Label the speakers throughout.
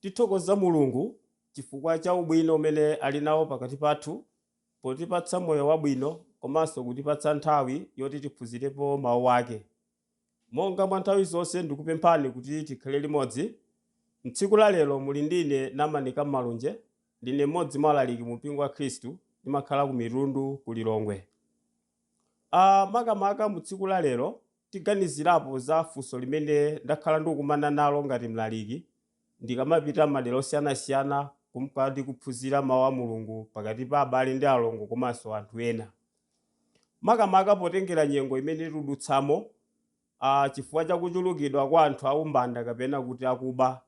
Speaker 1: Tithokoza Mulungu chifukwa cha ubwino umene ali nawo pakati pathu potipatsa moyo wabwino komanso kutipatsa nthawi yoti tiphunzirepo Mawu ake. Monga mwa nthawi zonse ndikupemphani kuti tikhale limodzi. M'tsiku la lero muli ndi ine Namanika Malunje, ndine m'modzi mwa alaliki mu Mpingo wa Khristu, ndimakhala ku Mitundu ku Lilongwe. a Makamaka mu tsiku la lero, tiganizirapo za funso limene ndakhala ndikukumana nalo ngati mlaliki ndikamapita m'madera osiyanasiyana kumka ndi kuphunzira Mau a Mulungu pakati pa abale ndi alongo komanso anthu ena. Makamaka potengera nyengo imene tikudutsamo, a chifukwa cha kuchulukidwa kwa anthu a umbanda kapena kuti akuba,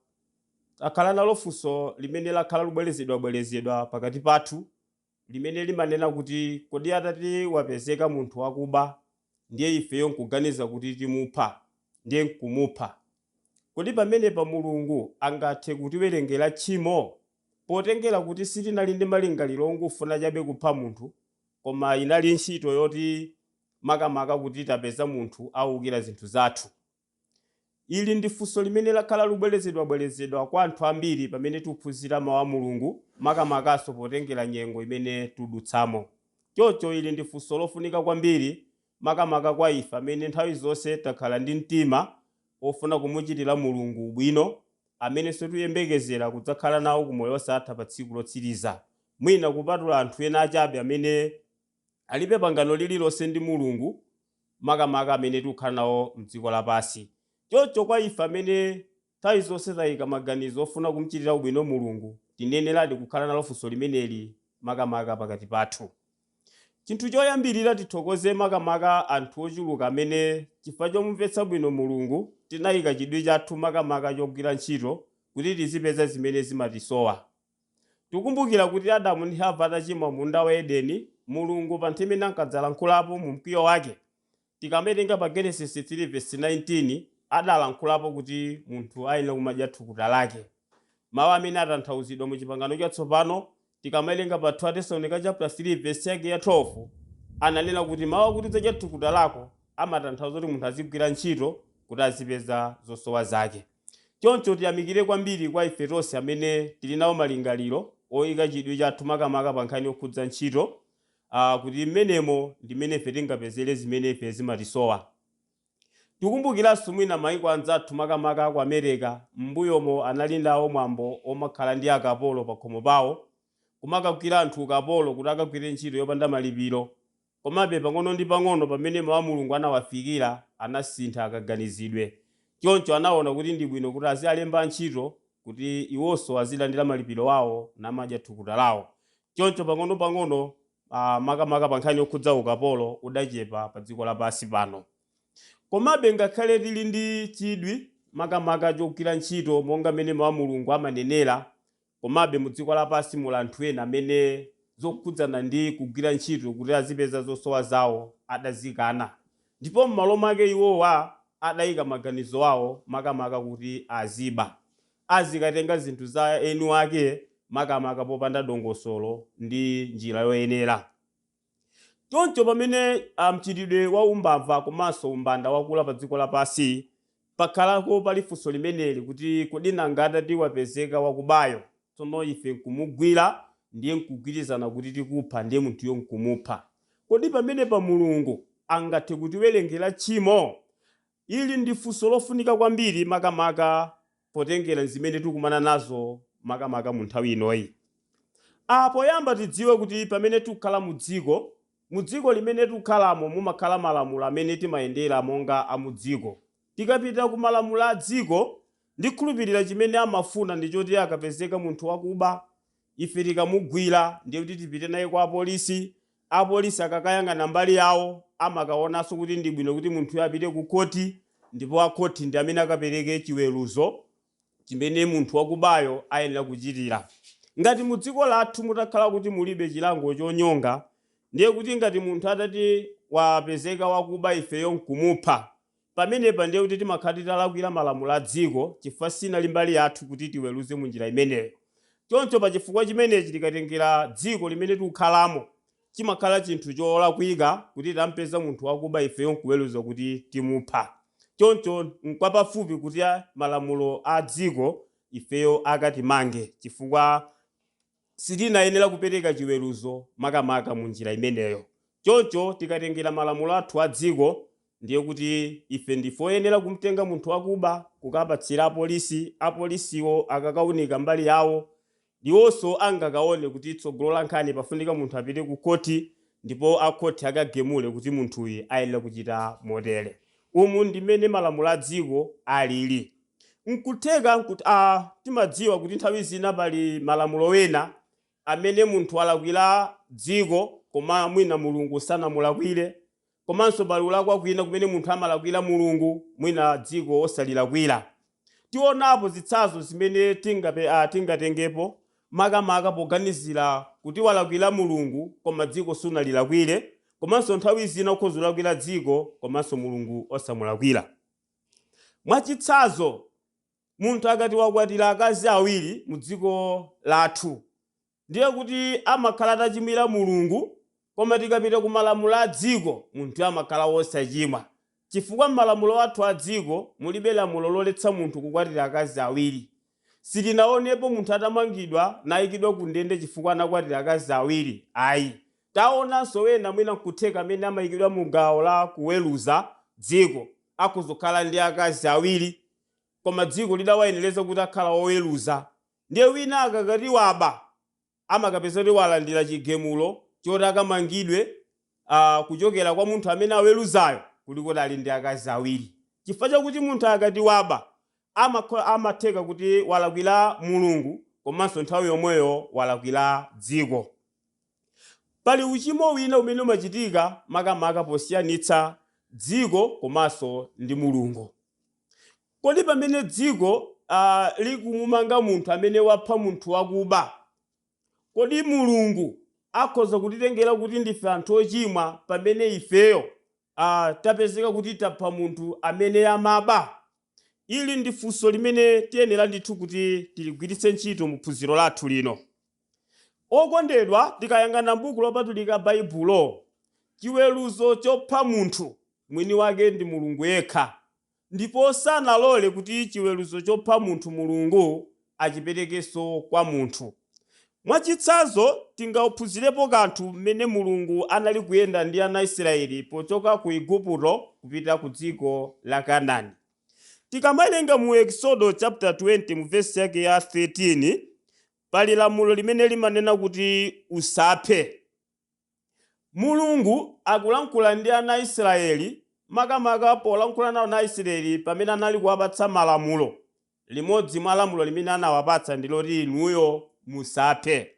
Speaker 1: takhala nalo funso limene lakhala likubwerezedwabwerezedwa pakati pathu limene limanena kuti kodi atati wapezeka munthu wakuba ndiye ifeyo n'kuganiza kuti timupha ndiye n'kumupha, kodi pamenepa Mulungu angathe kutiwerengera tchimo potengera kuti sitinali ndi malingaliro ongofuna chabe kupha munthu koma inali ntchito yoti makamaka kuti tapeza munthu aukira zinthu zathu? Ili ndi funso limene lakhala lubwelezedwa-bwelezedwa kwa anthu ambiri pamene tuphunzira Mau a Mulungu, maka-makanso potengera nyengo imene tudutsamo. Choncho ili ndi funso lofunika kwambiri maka-maka kwa ife amene nthawi zonse takhala ndi mtima wofuna kumuchitira Mulungu ubwino, amenenso tuyembekezera kudzakhala nawo ku moyo osatha pa tsiku lotsiriza, mwina kupatula anthu ena achabe amene. Alibe pangano lililonse ndi Mulungu, makamaka amene tikukhala nawo m'dziko lapansi. Choncho kwa ife amene nthawi zonse taika maganizo ofuna kum'chitira ubwino Mulungu, tiyeneradi kukhala nalo funso limeneli makamaka pakati pathu. Chinthu choyambirira, tithokoze makamaka anthu ochuluka amene, chifukwa chomumvetsa bwino Mulungu, tinaika chidwi chathu makamaka chogwira ntchito kuti tizipeza zimene zimatisowa. Tikumbukira kuti Adamu ndi Hava atachimwa m'munda wa Edeni, Mulungu pa nthawi imene ankadzalankhulapo mu mkwiyo wake, tikamawerenga pa Genesis 3 vesi 19, adalankhulapo kuti munthu ayenera kumadya thukuta lake. Mau amene atanthauzidwa mu Chipangano Chatsopano, tikamawerenga pa 2 Atesalonika chaputala 3 vesi yake ya 12, ananena kuti mau akuti udzadya thukuta lako amatanthauza kuti munthu azigwira ntchito kuti azipeza zosowa zake. Choncho tiyamikire kwambiri kwa ife tonse amene tili nawo malingaliro oika chidwi chathu makamaka pa nkhani yokhudza ntchito, a, kuti m'menemo ndi m'mene ife tingapezere zimene ife zimatisowa. Tikumbukiranso mwina maiko anzathu makamaka ku Amereka m'mbuyomo anali nawo mwambo omakhala ndi akapolo pakhomo pawo, kumakagwira anthu ukapolo kuti akagwire ntchito yopanda malipiro. Komabe, pang'ono ndi pang'ono pamene Mawu a Mulungu anawafikira, anasintha kaganizidwe. Choncho anaona kuti ndi bwino kuti azialemba ntchito kuti iwonso azilandira malipiro awo namadya thukuta lawo. Choncho pang'ono pang'ono a, makamaka pa nkhani yokhudza ukapolo udachepa pa dziko lapansi pano. Komabe ngakhale tili ndi chidwi makamaka chogwira ntchito monga mmene Mawu a Mulungu amanenera, Komabe, mu dziko lapansi muli anthu ena amene zokhudzana ndi kugwira ntchito kuti azipeza zosowa zawo adazikana, ndipo m'malo mwake iwowa adaika maganizo awo makamaka kuti aziba, azikatenga zinthu za eni wake makamaka popanda dongosolo ndi njira yoyenera. Choncho pamene mchitidwe wa umbava komanso umbanda wakula pa dziko lapansi, pakhalako pali funso limeneli kuti kodi nanga atati wapezeka wakubayo, tsono ife nkumugwira ndiye nkugwirizana kuti tikupha ndiye munthuyo nkumupha, kodi pamenepa Mulungu angathe kutiwerengera tchimo? Ili ndi funso lofunika kwambiri makamaka potengera ndi zimene tikumana nazo makamaka mu nthawi inoyi. A. Poyamba tidziwe kuti pamene tikukhala mu dziko, mu dziko limene tikukhalamo mumakhala malamulo amene timayendera monga a mu dziko. Tikapita ku malamulo a dziko, ndikhulupirira chimene amafuna ndi choti akapezeka munthu wakuba, Ife tikamugwira ndiye kuti tipite naye kwa apolisi, apolisi akakayang'ana mbali yawo amakaonanso kuti ndi bwino kuti munthuyo apite kukhoti ndipo akhoti ndi amene akapereke chiweruzo chimene munthu wakubayo ayenera kuchitira. Ngati mu dziko lathu mutakhala kuti mulibe chilango chonyonga, ndiye kuti ngati munthu atati wapezeka wakuba ifeyo n'kumupha, Pamenepa ndiye kuti timakhala titalakwira malamulo a dziko chifukwa sinali mbali yathu kuti tiweruze mu njira imeneyo. Choncho pa chifukwa chimenechi tikatengera dziko limene tikukhalamo chimakhala chinthu cholakwika kuti titampeza munthu wakuba ifeyo nkuweruza kuti timupha. Choncho nkwapafupi kuti malamulo a dziko ifeyo akatimange chifukwa. Sitinayenera kupereka chiweruzo makamaka mu njira imeneyo. Choncho tikatengera malamulo athu a dziko, ndiye kuti ife ndife oyenera kumtenga munthu wakuba kukapatsira apolisi, apolisiwo akakaunika mbali yawo, iwonso angakaone kuti tsogolo la nkhani pafunika munthu apite ku khoti ndipo akhoti akagamule kuti munthuyu ayenera kuchita motere. Umu ndi mmene malamulo a dziko alili. N'kutheka kut a timadziwa kuti nthawi zina pali malamulo ena amene munthu walakwira dziko koma mwina Mulungu sanamulakwire, komanso pali kulakwa kwina kumene munthu amalakwira Mulungu mwina dziko osalilakwira. Tionapo zitsazo zimene tingape a tingatengepo makamaka poganizira kuti walakwira Mulungu koma dziko sunalilakwire, komanso nthawi zina ukhoza kulakwira dziko komanso Mulungu osamulakwira. Mwachitsazo, munthu akati wakwatira akazi awiri mu dziko lathu ndiye kuti amakhala atachimwira Mulungu koma tikapita ku malamulo a dziko munthuyo amakhala wosachimwa chifukwa m'malamulo athu a dziko mulibe lamulo loletsa munthu kukwatira akazi awiri. Sitinaonepo munthu atamangidwa naikidwa kundende chifukwa anakwatira akazi awiri ayi. Taonanso ena mwina nkutheka amene amaikidwa mu gawo la kuweruza dziko akhoza kukhala ndi akazi awiri koma dziko lidawayenereza kuti akhala oweruza. Ndiye wina akakati waba amakapeza kuti walandira chigamulo choti akamangidwe a kuchokera kwa munthu amene aweruzayo kuli kuti ali ndi akazi awiri chifukwa chakuti munthu akati waba amakhola amatheka kuti walakwira mulungu komanso nthawi yomweyo walakwira dziko pali uchimo wina umene umachitika makamaka posiyanitsa dziko komanso ndi mulungu Kodi pamene dziko a, likumumanga munthu amene wapha munthu wakuba, kodi Mulungu akhoza kutitengera kuti ndife anthu ochimwa pamene ifeyo a, tapezeka kuti tapha munthu amene amaba? Ili ndi funso limene tiyenera ndithu kuti tiligwiritse ntchito mu phunziro lathu lino. Okondedwa, tikayang'ana m'Buku Lopatulika Baibulo, chiweruzo chopha munthu, mwini wake ndi Mulungu yekha. Ndipo sanalole kuti chiweruzo chopha munthu Mulungu achiperekenso kwa munthu. Mwa chitsanzo, tingaphunzirepo kanthu m'mene Mulungu anali kuyenda ndi ana Israeli pochoka ku Iguputo kupita ku dziko la Kanani. Tikamawerenga mu Ekisodo chapter 20 mu vesi yake ya 13, pali lamulo limene limanena kuti usaphe. Mulungu akulankhula ndi ana a Israyeli, makamaka polankhula nawo ana a Israyeli pamene anali kuwapatsa malamulo. Limodzi mwa lamulo limene anawapatsa ndi loti inuyo musaphe.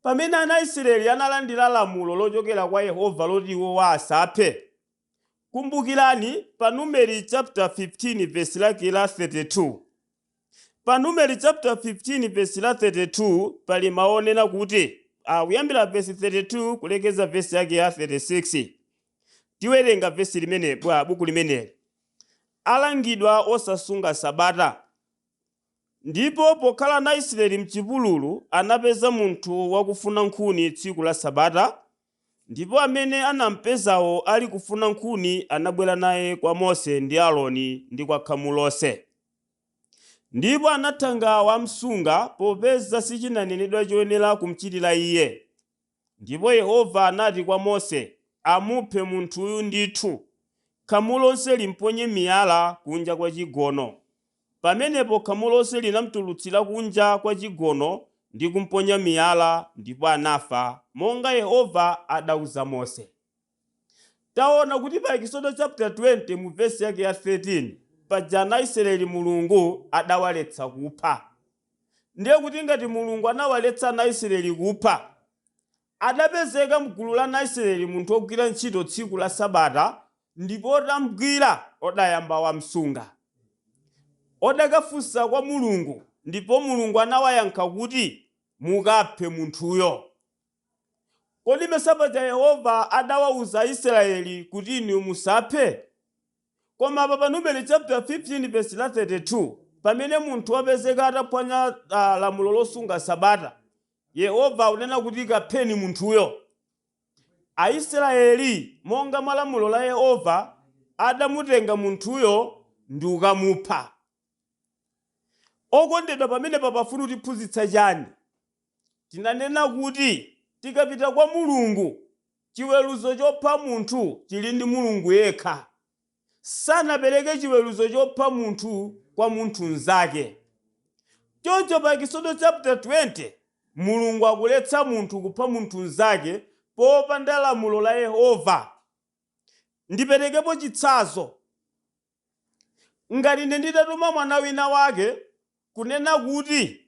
Speaker 1: Pamene ana a Israyeli analandira lamulo lochokera kwa Yehova loti iwo asaphe, kumbukirani pa Numeri chaputala 15 vesi lake la 32. Pa Numeri chaputala 15 vesi la 32 pali mawu onena kuti, a kuyambira vesi 32 kulekeza vesi yake ya 36. Tiwerenga vesi limene mwa buku limeneli. Alangidwa osasunga Sabata. Ndipo pokhala ana a Israyeli m'chipululu, anapeza munthu wakufuna nkhuni tsiku la Sabata, Ndipo amene anampezawo alikufuna nkhuni anabwera naye kwa Mose ndi Aroni, ndi kwa khamu lonse. Ndipo anathanga wamsunga, popeza sichinanenedwa choyenera kumchitira iye. Ndipo Yehova anati kwa Mose, Amuphe munthuyu ndithu, khamu lonse limponye miyala kunja kwa chigono, Pamenepo khamu lonse linamtulutsira kunja kwa chigono ndi kumponya miyala, ndipo anafa, monga Yehova adauza Mose. Taona kuti pa Ekisodo chaputala 20 mu vesi yake ya 13, paja ana Israeli Mulungu adawaletsa kupha. Ndiye kuti ngati Mulungu anawaletsa ana Israeli kupha, Adapezeka m'gulu la ana Israeli munthu wogwira ntchito tsiku la Sabata, ndipo otamgwira odayamba wamsunga. Odakafunsa kwa Mulungu, ndipo Mulungu anawayankha kuti, Mukaphe munthuyo. Kodi mesa paja Yehova adawauza Aisraeli kuti inuyo musaphe? Koma apa pa Numeri chaputala 15 vesi la 32, pamene munthu wapezeka ataphwanya lamulo losunga Sabata, Yehova akunena kuti, Kapheni munthuyo. Aisraeli, monga mwa lamulo la Yehova, adamutenga munthuyo ndi kukamupha. Okondedwa pamenepa pafuna kutiphunzitsa chani? Tinanena kuti tikapita kwa Mulungu, chiweruzo chopha munthu chili ndi Mulungu yekha. sanapereke chiweruzo chopha munthu kwa munthu mzake. Choncho pa Ekisodo chaputa 20, Mulungu akuletsa munthu kupha munthu mzake popanda lamulo la Yehova. Ndiperekepo chitsanzo. Ngati ine nditatuma mwana wina wake kunena kuti,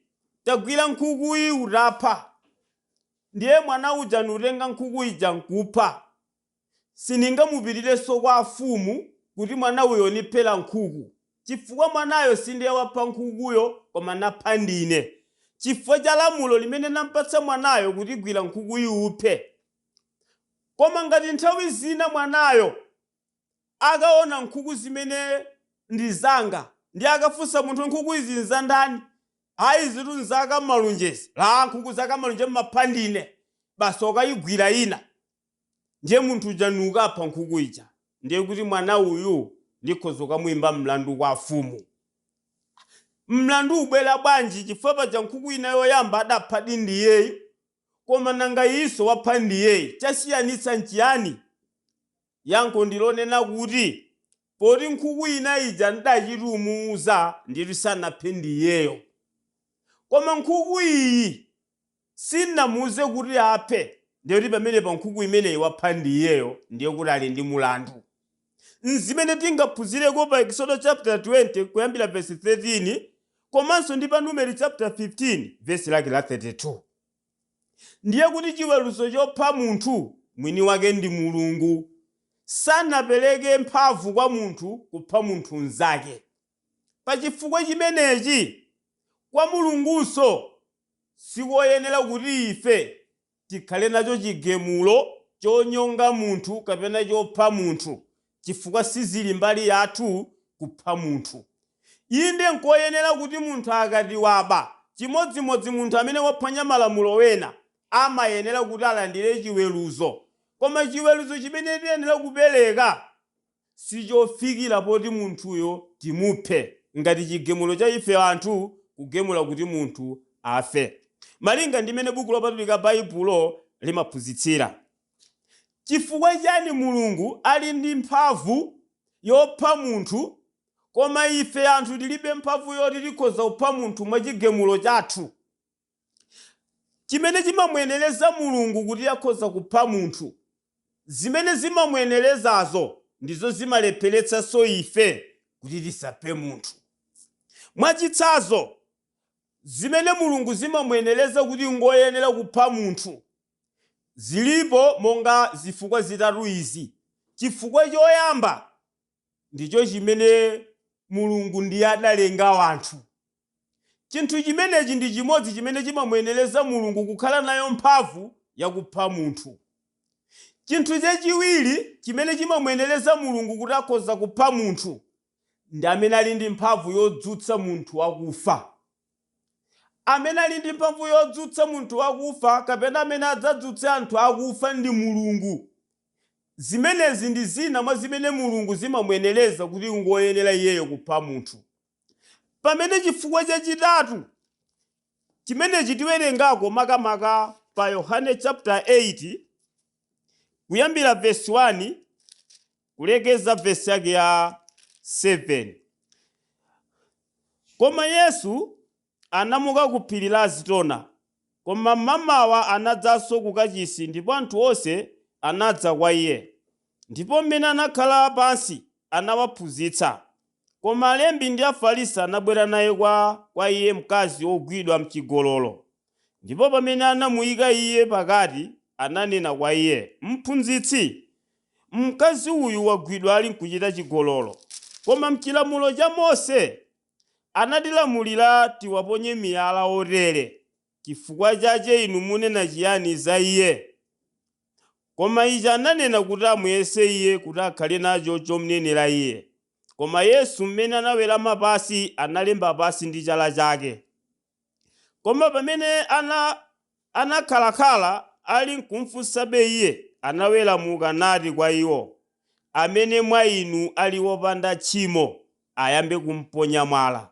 Speaker 1: Tagwira nkhukuyi utapha. Ndiye mwana uja nkutenga nkhuku ija nkupha. Siningamupitirenso kwa afumu kuti mwana uyo niphela nkhuku, chifukwa mwanayo sindiye wapha nkhukuyo koma napha ndine, chifukwa cha lamulo limene nampatsa mwanayo kuti gwira nkhukuyi uphe. Koma ngati nthawi zina mwanayo akaona nkhuku zimene ndi zanga ndiye akafunsa munthu nkhuku izi nzandani? Ayi izitu nza Kammalunjezi. Aaa nkhuku za Kammalunje mmapha ndine. Basi okayigwira ina. Ndiye munthu uja nukapha nkhuku ija, ndiye kuti mwana uyu ndikhoza kukamuyimba mlandu kwa afumu. Mlandu ubwera bwanji chifukwa paja nkhuku ina yoyamba adaphadi ndi iyeyu koma nanga iyinso wapha ndi iyeyu, chasiyanitsa nchiyani? Yankho ndi lonena kuti, poti nkhuku ina ija n'dachita kumuuza ndiyetu sanaphe ndi iyeyo. Koma nkhuku iyi. Sinamuuze kuti aphe ndiye kuti pamenepa nkhuku imeneyi wapha ndi iyeyo ndiye kuti ali ndi mulandu. N'zimene tingaphunzireko pa Ekisodo chaputala 20 kuyambira vesi 13 komanso ndi pa Numeri chaputala 15 vesi lake la 32. Ndiye kuti chiweruzo chopha munthu mwini wake ndi Mulungu. Sanapereke mphamvu kwa munthu kupha munthu mnzake. Pa chifukwa chimenechi, kwa Mulungunso sikoyenera kuti ife tikhale nacho chigemulo chonyonga munthu kapena chopha munthu, chifukwa sizili mbali yathu kupha munthu. Inde, nkoyenera kuti munthu akati waba, chimodzimodzi munthu amene waphwanya malamulo ena, amayenera kuti alandire chiweruzo. Koma chiweruzo chimene tiyenera kupereka sichofikira poti munthuyo timuphe ngati chigemulo cha ife anthu kugemula kuti munthu afe. Malinga ndi mmene Buku Lopatulika Baibulo limaphunzitsira, chifukwa chani Mulungu ali ndi mphamvu yopha munthu koma ife anthu tilibe mphamvu yoti tikhoza kupha munthu mwachigemulo chathu? chimene chimamuyenereza Mulungu kuti akhoza kupha munthu. Zimene zimamuyenerezazo ndizo zimalepheretsanso ife kuti tisaphe munthu. Mwachitsanzo, zimene Mulungu zimamuyenereza kuti ngoyenera kupha munthu zilipo monga zifukwa zitatu izi, Chifukwa choyamba ndicho chimene Mulungu ndiye adalenga anthu. Chinthu chimenechi ndi chimodzi chimene chimamuyenereza Mulungu kukhala nayo mphamvu yakupha munthu. Chinthu chachiwiri chimene chimamuyenereza Mulungu kuti akhoza kupha munthu, ndi amene ali ndi mphamvu yodzutsa munthu wakufa. Amene ali ndi mphamvu yodzutsa munthu wakufa kapena amene adzadzutse anthu akufa ndi Mulungu. Zimenezi ndi zina mwa zimene Mulungu zimamuyenereza kuti ngoyenera iyeyo kupha munthu. Pamene chifukwa chachitatu chimenechi tiwerengako makamaka pa Yohane chaputala 8, kuyambira vesi 1 kulekeza vesi yake ya 7. Koma Yesu Anamuka ku phiri la Azitona. Koma m'mamawa anadzanso ku Kacisi, ndipo anthu onse anadza kwa iye. Ndipo m'mene anakhala pansi, anawaphunzitsa. Koma alembi ndi Afarisi anabwera naye kwa kwa iye mkazi wogwidwa m'cigololo, ndipo pamene anamuika iye pakati, ananena kwa iye, Mphunzitsi, mkazi uyu wagwidwa alinkucita cigololo. Koma m'cilamulo ca Mose anatilamulira tiwaponye miyala otere, cifukwa cace inu munena ciani za iye? Koma ici ananena kuti amuyese iye, kuti akhale naco comnenera iye. Koma Yesu, m'mene anawerama pansi, analemba pansi ndi cala cake. Koma pamene ana anakhalakhala ali nkumfunsabe Iye, anaweramuka nati kwa iwo, Amene mwa inu ali wopanda tchimo, ayambe kumponya mwala.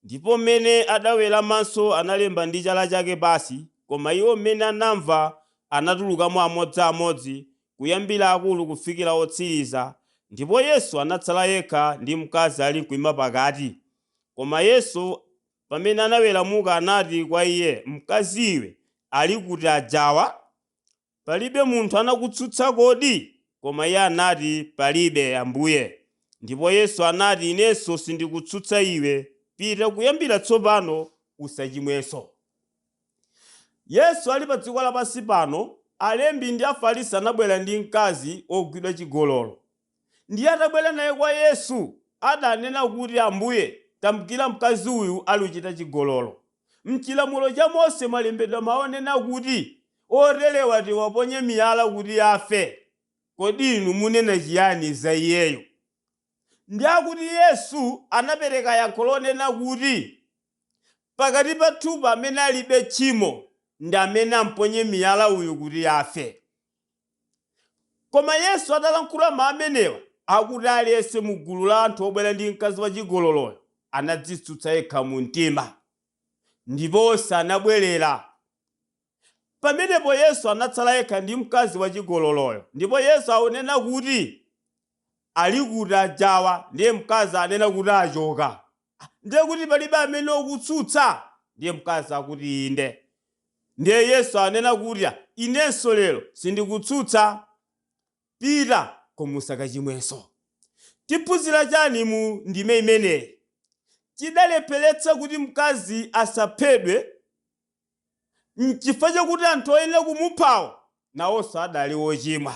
Speaker 1: Ndipo m'mene adaweramanso analemba ndi chala chake pansi, koma iwo m'mene anamva anatulukamo amodzi amodzi, kuyambira akulu kufikira otsiriza, ndipo Yesu anatsala yekha ndi mkazi alinkuima pakati. Koma Yesu. Pamene anaweramuka anati kwa iye, Mkazi iwe, ali kuti ajawa? Palibe munthu anakutsutsa kodi? Koma iye anati, Palibe, Ambuye. Ndipo Yesu anati, Inenso sindikutsutsa iwe, pita kuyambira tsopano usachimwenso. Yesu ali padziko lapansi pano, alembi ndi Afarisi anabwera ndi mkazi wogwidwa chigololo. Ndiye atabwera naye kwa Yesu, adanena kuti, Ambuye, tamugwira mkazi uyu ali kuchita chigololo. M'chilamulo cha Mose mwalembedwa mau onena kuti, Oterewa tiwaponye miyala kuti afe. Kodi inu munena chiyani za iyeyu? Ndiye akuti Yesu anapereka yankho lonena kuti pakati pathupa amene alibe tchimo ndi amene amponye miyala uyu kuti afe. Koma Yesu atalankhula mawu amenewa, akuti aliyense mu gulu la anthu obwera ndi mkazi wachigololoyo anadzitsutsa yekha mu mtima, ndipo onse anabwerera. Pamenepo Yesu anatsala yekha ndi mkazi wachigololoyo. Ndipo Yesu akunena kuti, Ali kuti ajawa? Ndiye mkazi anena kuti, Achoka. Ndiye kuti palibe amene akutsutsa? Ndiye mkazi akuti, Inde. Ndiye Yesu anena kuti, Inenso lero sindikutsutsa. Pita, koma usakachimwenso. Tiphunzira chani mu ndime imeneyi? Chidalepheretsa kuti mkazi asaphedwe. N'chifukwa chakuti anthu oyenera kumuphawo nawonso adali ochimwa.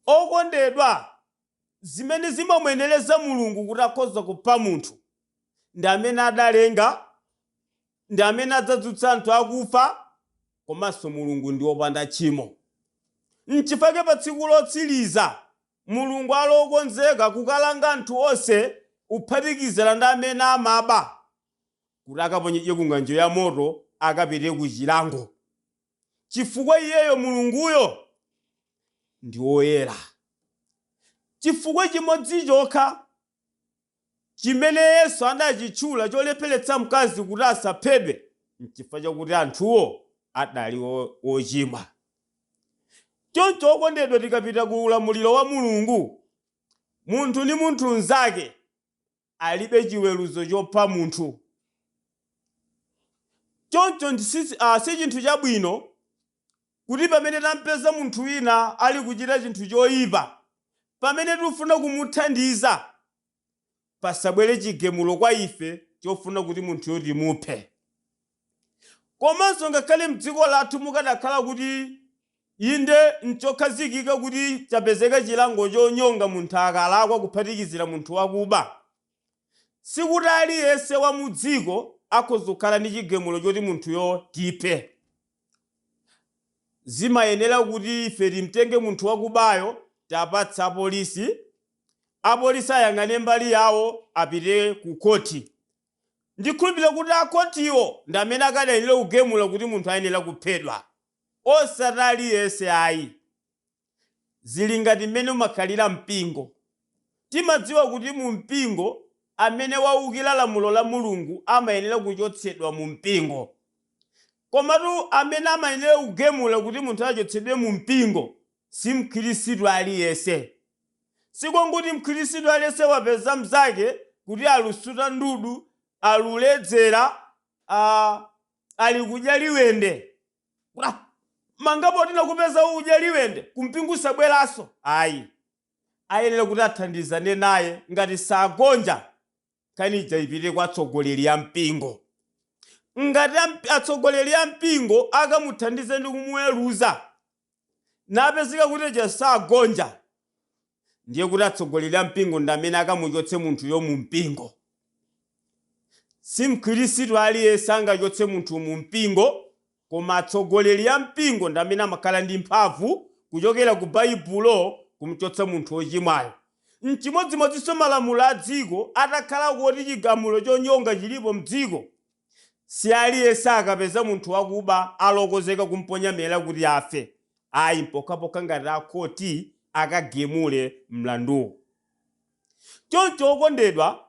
Speaker 1: Okondedwa, zimene zimamuyenereza Mulungu kuti akhoza kupha munthu, ndi amene adalenga, ndi amene adzadzutsa anthu akufa, komanso Mulungu ndi wopanda tchimo. N'chifukwa chake pa tsiku lotsiriza, Mulungu ali okonzeka kukalanga anthu onse, kuphatikizira ndi amene amaba. kuti akaponyedwe ku ng'anjo ya moto, akapite ku chilango, chifukwa iyeyo, Mulunguyo, ndi woyera. Chifukwa chimodzi chokha chimene Yesu anachitchula cholepheretsa mkazi kuti asaphedwe n'chifukwa chakuti anthuwo adali ochimwa. Choncho okondedwa tikapita ku ulamuliro wa Mulungu, munthu ndi munthu mnzake alibe chiweruzo chopha munthu. Choncho si chinthu chabwino kuti pamene tam'peza munthu wina ali kuchita chinthu choipa, pamene tikufuna kumuthandiza, pasabwere chigemulo kwa ife chofuna kuti munthuyo timuphe. Komanso ngakhale m'dziko lathu mukadakhala kuti inde nchokhazikika kuti chapezeka chilango chonyonga munthu akalakwa kuphatikizira munthu wakuba, sikuti aliyense wa mudziko akhoza kukhala ndi chigemulo choti munthuyo tiphe. Zimayenera kuti ife timtenge munthu wakubayo tiwapatse apolisi, apolisi ayang'ane mbali yawo apite kukhoti Ndikhulupirira kuti a khotiwo ndi amene akadayenera kugemula kuti munthu ayenera kuphedwa osati aliyense ayi. Zili ngati mmene umakhalira mpingo. Timadziwa kuti mu mpingo amene waukira lamulo la Mulungu amayenera kuchotsedwa mu mpingo. Komatu amene amayenera kugemula kuti munthu achotsedwe mu mpingo si mkhristu aliyense. Sikonguti mkhristu aliyese wapeza mzake kuti alusuta ndudu, aluledzera, ali kudya liwende, amanga poti takupeza ukudya liwende kumpingo usabwerenso ayi. Ayenera kuti athandizane naye ngati sagonja nkhani ija ipite kwa atsogoleri a mpingo ngati amp- atsogoleri a mpingo akamuthandize ndi kumuweruza napezeka kuti sagonja ndiye kuti atsogoleri a mpingo ndi amene akamuchotse munthuyo mu mpingo si mkhristu aliyense angachotse munthu mu mpingo Koma atsogoleri a mpingo ndi amene amakhala ndi mphamvu kuchokera ku Baibulo kumchotsa munthu wochimwayo. N'chimodzimodzinso malamulo a dziko, atakhala kuti chigamulo chonyonga chilipo m'dziko, si aliyense akapeza munthu wakuba alokozeka kumponya miyala kuti afe ayi, mpokhapokha ngati a khoti akagemule mlanduwo. Choncho okondedwa,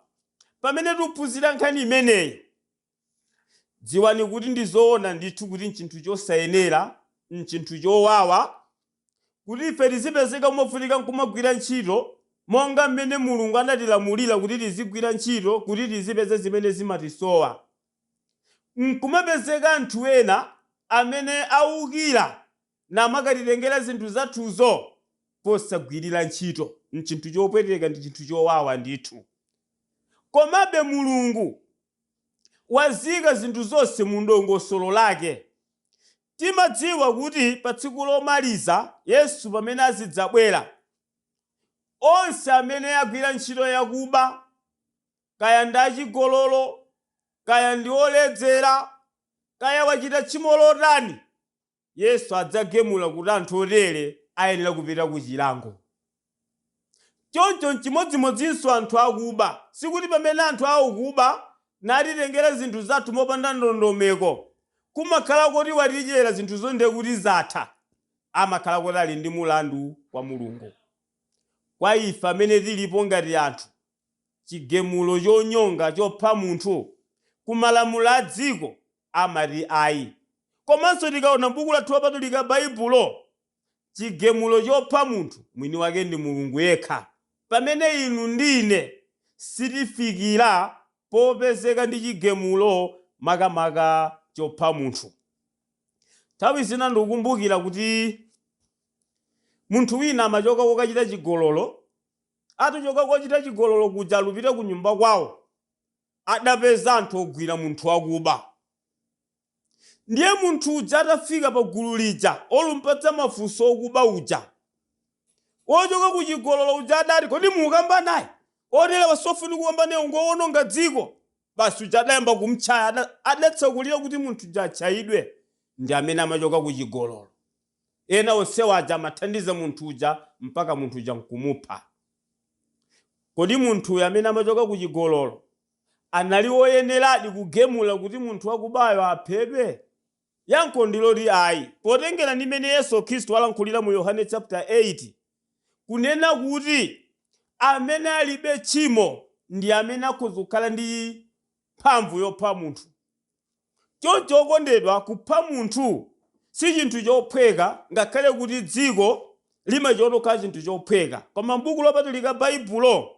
Speaker 1: pamene tikuphunzira nkhani imeneyi, Dziwani kuti ndi zoona ndithu kuti n'chinthu chosayenera, n'chinthu chowawa, kuti ife tizipezeka movutika n'kumagwira ntchito monga mmene Mulungu anatilamulira kuti tizigwira ntchito kuti tizipeza zimene zimatisowa, n'kumapezeka anthu ena amene akuba namakatitengera zinthu zathuzo posagwirira ntchito. N'chinthu chopweteka, ndi chinthu chowawa ndithu. Komabe Mulungu. Wazika zinthu zonse mu dongosolo lake. Timadziwa kuti pa tsiku lomaliza, Yesu pamene azidzabwera, onse amene agwira ntchito yakuba, kaya ndi achigololo, kaya ndi oledzera, kaya wachita tchimo lotani, Yesu adzagemula kuti anthu otere ayenera kupita ku chilango. Choncho n'chimodzimodzinso anthu akuba. Sikuti pamene anthu akuba natitengera zinthu zathu mopanda ndondomeko, kumakhala koti watidyera zinthuzo ndiye kuti zatha. Amakhala kuti ali ndi mulandu kwa Mulungu. Kwa ife amene tilipo ngati anthu, chigemulo chonyonga chopha munthu ku malamulo a dziko amati ayi. Komanso tikaona m'buku lathu lopatulika, Baibulo, chigemulo chopha munthu mwini wake ndi Mulungu yekha pamene inu ndi ine sitifikira popezeka ndi chigemulo makamaka chopha munthu. Nthawi zina ndikukumbukira kuti munthu wina amachoka kokachita chigololo, atochoka kochita chigololo kuja alupita kunyumba kwawo, adapeza anthu ogwira munthu wakuba. Ndiye munthu uja atafika pa gulu lija, olumpatsa mafunso okuba uja, wochoka ku chigololo uja adati, Kodi mukukamba naye? Oterewa siofunika kukamba naye, ngowononga dziko. Basi uja adayamba kumtchaya, adatsekulira kuti munthu uja atchayidwe. Ndi amene amachoka ku chigololo. Ena onse aja amathandiza munthu uja mpaka munthu uja nkumupha. Kodi munthuyo amene amachoka ku chigololo anali woyeneradi kugemula kuti munthu wakubayo aphedwe? Yankho ndi loti ayi. Potengera ndi mmene Yesu Khristu walankhulira mu Yohane chaputa 8, kunena kuti amene alibe tchimo ndi amene akhoza kukhala ndi mphamvu yopha munthu, Choncho okondedwa, kupha munthu si chinthu chophweka ngakhale kuti dziko limachiona kukhala chinthu chophweka. Koma m'Buku Lopatulika Baibulo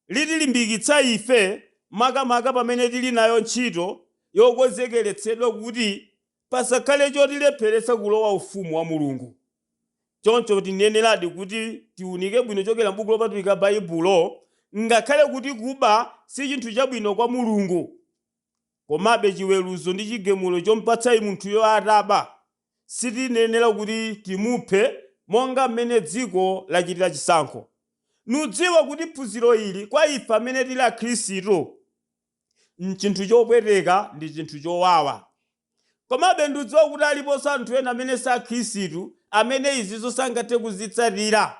Speaker 1: litilimbikitsa ife makamaka pamene tili nayo ntchito yokonzekeretsedwa kuti pasakhale chotilepheretsa kulowa ufumu wa Mulungu. Choncho tiyeneradi kuti tiunike bwino kuchokera m'Buku Lopatulika Baibulo ngakhale kuti kuba si chinthu chabwino kwa Mulungu. Komabe, chiweruzo ndi chigemulo chompatsayi munthuyo ataba, sitiyenera kuti timuphe monga mmene dziko lachitira chisankho. Ndidziwa kuti phunziro ili kwa ife amene tili Akhristu n'chinthu chopweteka ndi chinthu chowawa. Komabe, ndidziwa kuti aliponso anthu ena amene si Akhristu amene izizo sangathe kuzitsatira,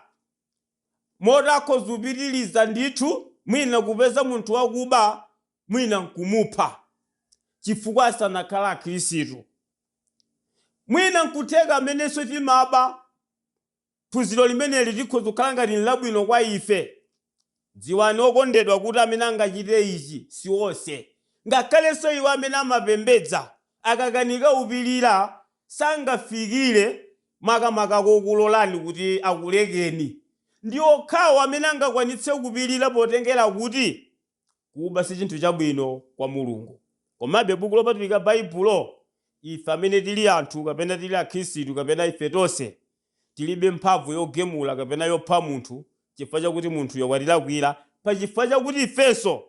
Speaker 1: moti akhoza kupitiriza ndithu mwina kupeza munthu wakuba mwina n'kumupha chifukwa asanakhale Akhristu. Mwina n'kutheka amenenso timaba phunziro limeneli likhoza kukhala ngati n'labwino kwa ife. Dziwani okondedwa kuti amene angachite ichi si onse. Ngakhalenso iwo amene amapembedza akakanika kupirira sangafikire makamaka kokulolani kuti akulekeni. Ndi okhawo amene angakwanitse kupirira potengera kuti Kuba si chinthu chabwino kwa Mulungu. Komabe Buku Lopatulika Baibulo, ife amene tili anthu kapena tili Akhristu kapena ife tonse, tilibe mphamvu yogemula kapena yopha munthu chifukwa chakuti munthuyo watilakwira pa chifukwa chakuti ifenso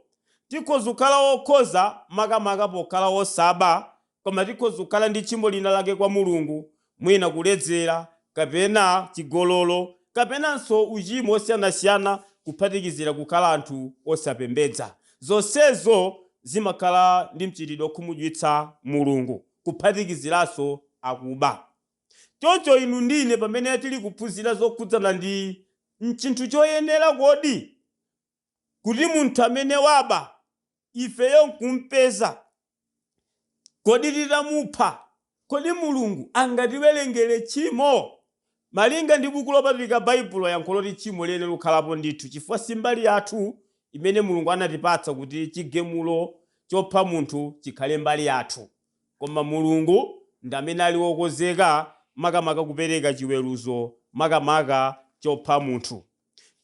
Speaker 1: tikhoza kukhala okhoza makamaka pokhala osaba Koma tikhoza kukhala ndi tchimo lina lake kwa Mulungu, mwina kuledzera kapena chigololo kapenanso uchimo wosiyanasiyana kuphatikizira kukhala anthu osapembedza. Zonsezo zimakhala ndi mchitidwe okhumudwitsa Mulungu, kuphatikiziranso akuba. Choncho inu ndi ine pamene tili kuphunzira zokhudzana ndi, Nchinthu choyenera kodi? kuti munthu amene waba ifeyo n'kumpeza, kodi titamupha, kodi Mulungu angatiwerengere tchimo? Malinga ndi Buku Lopatulika Baibulo, yankho n'loti tchimo liyenera kukhalapo ndithu chifukwa si mbali yathu imene Mulungu anatipatsa kuti chigemulo chopha munthu chikhale mbali yathu. Koma Mulungu ndi amene ali wokonzeka makamaka kupereka chiweruzo makamaka chopha munthu.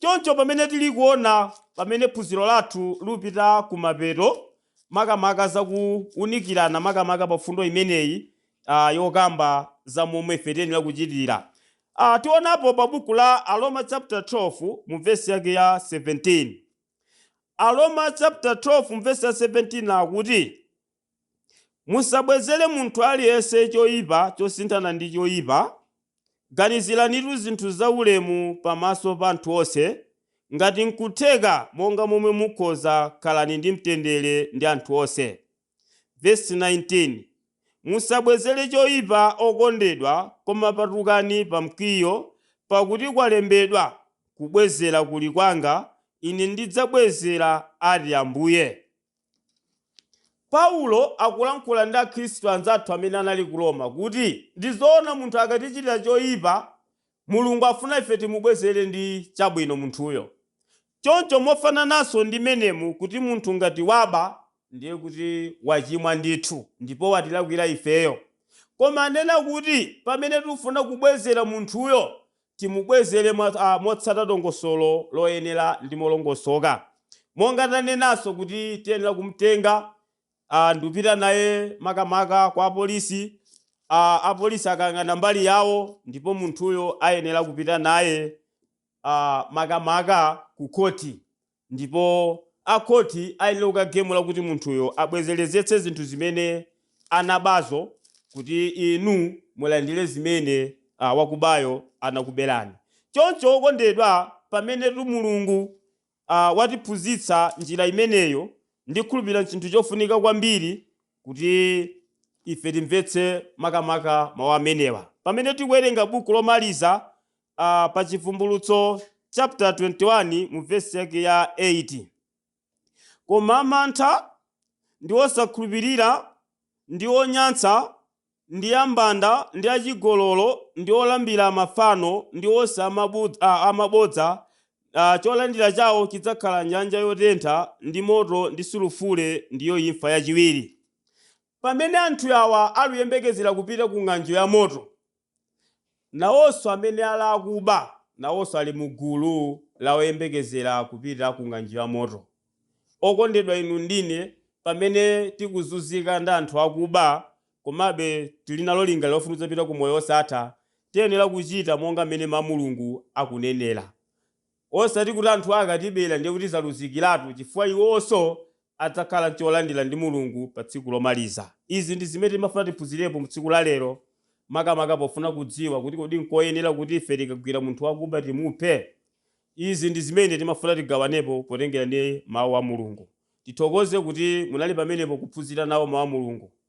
Speaker 1: Choncho pamene tili kuona pamene phunziro lathu lupita ku mapeto, makamaka za kuunikirana makamaka pa fundo imeneyi yokamba za momwe ife tiyenera kuchitira. Tionapo pa buku la Aroma chapter 12 mu verse yake ya 17. Aroma chapter 12 mu verse ya 17 akuti, Musabwezere munthu aliyense choipa chosinthana ndi choipa. Ganiziranitu zinthu zaulemu pamaso pa anthu onse. Ngati n'kutheka, monga momwe mukhoza, khalani ndi mtendere ndi anthu onse. Vesi 19, Musabwezere choipa, okondedwa, koma patukani pa mkwiyo, pakuti kwalembedwa, Kubwezera kuli kwanga, Ine ndidzabwezera, ati Ambuye. Paulo akulankhula ndi Akhristu anzathu amene anali ku Roma kuti, Ndi zoona munthu akatichitira choipa, Mulungu afuna ife timubwezere ndi chabwino munthuyo. Choncho mofanananso ndi menemu kuti munthu ngati waba ndiye kuti wachimwa ndithu ndipo watilakwira ifeyo. Koma anena kuti pamene tufuna kubwezera munthuyo timubwezere mwa, a, motsata dongosolo loyenera ndi molongosoka. Monga tanenanso kuti tiyenera kumutenga, a, ndikupita naye makamaka kwa apolisi, a, apolisi akayang'ana mbali yawo ndipo munthuyo ayenera kupita naye, a, makamaka ku khoti Ndipo a khoti ayenera kukagamula kuti munthuyo abwezerezetse zinthu zimene anabazo kuti inu mulandire zimene a, wakubayo anakuberani. Choncho okondedwa, pamenetu Mulungu a, watiphunzitsa njira imeneyo, ndikhulupirira n'chinthu chofunika kwambiri kuti ife timvetse makamaka mau amenewa. Pamene tikuwerenga Buku Lomaliza a pa Chivumbulutso chaputala 21 mu vesi yake ya 8. Koma amantha, ndi osakhulupirira, ndi onyansa, ndi ambanda, ndi achigololo, ndi olambira mafano, ndi onse a mabud- a- a mabodza, a, cholandira chawo chidzakhala m'nyanja yotentha ndi moto ndi sulufule, ndiyo imfa yachiwiri. Pamene anthu awa aluyembekezera kupita ku ng'anjo ya moto, Nawonso amene ali akuba, nawonso ali mu gulu la oyembekezera kupita ku ng'anjo ya moto. Okondedwa inu ndi ine, pamene tikuzunzika ndi anthu akuba, komabe tili nalo lingaliro lofuna kudzapita ku moyo wosatha, tiyenera kuchita monga mmene Mawu a Mulungu akunenera. Osati kuti anthuwa akatibera ndiye kuti zaluzikiratu chifukwa iwonso adzakhala n'cholandira ndi Mulungu pa tsiku lomaliza. Izi ndi zimene timafuna tiphunzirepo mu tsiku la lero makamaka pofuna kudziwa kuti kodi nkoyenera kuti ife tikagwira munthu wakuba timuphe? Izi ndi zimene timafuna tigawanepo potengera ndi Mau a Mulungu. Tithokoze kuti munali pamenepo kuphunzira nawo Mau a Mulungu.